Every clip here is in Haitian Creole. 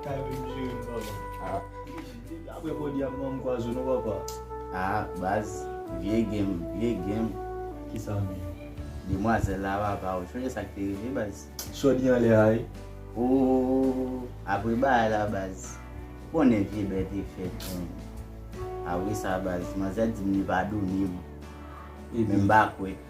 Kay menm jere'm papa. Ah. Aprè kòd yap banm pwazo non papa. Ah baz, vye game, vye game. Kisa menm? Demwazèl la papa, ou sonje sak te rive baz. Sò di anlè a wi. Ooh apre bagay la baz. Ou konnen vye bè te fèt menm. Apresa baz, manzè dim li pa domi. Menm pa kwè.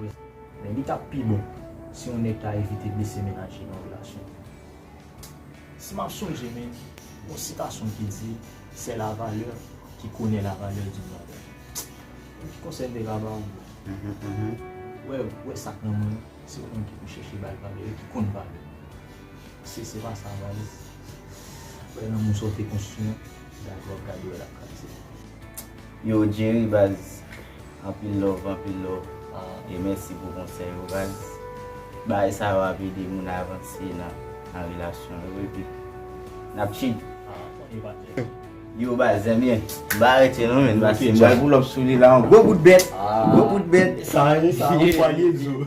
Men li tap pi bon si yon nèg ta evite blese mennaj li nan relasyon. Si map sonje men yon sitasyon ki di c'est la valeur qui connait la valeur d'une valeur. Bon ki konsèy m te ka baw bro. Wè wè sak nan mwen an se ou menm ki pou chèche bal valè yo ki konn valè yo. Si se pa sa valè wè nan moun sa ou te konstwi an gade wap gade wè lap kraze. Yo Jerry baz. Anpil love anpil love e mèsi pou konsèy yo baz bagay sa yo ap ede moun avanse nan relasyon yo epi nap chil. Yo baz zenbyen m pa rete non men paske m pral poulòp sou li la an gwo bout bèt gwo bout bèt. Sa a ye sa a ou pwale di w.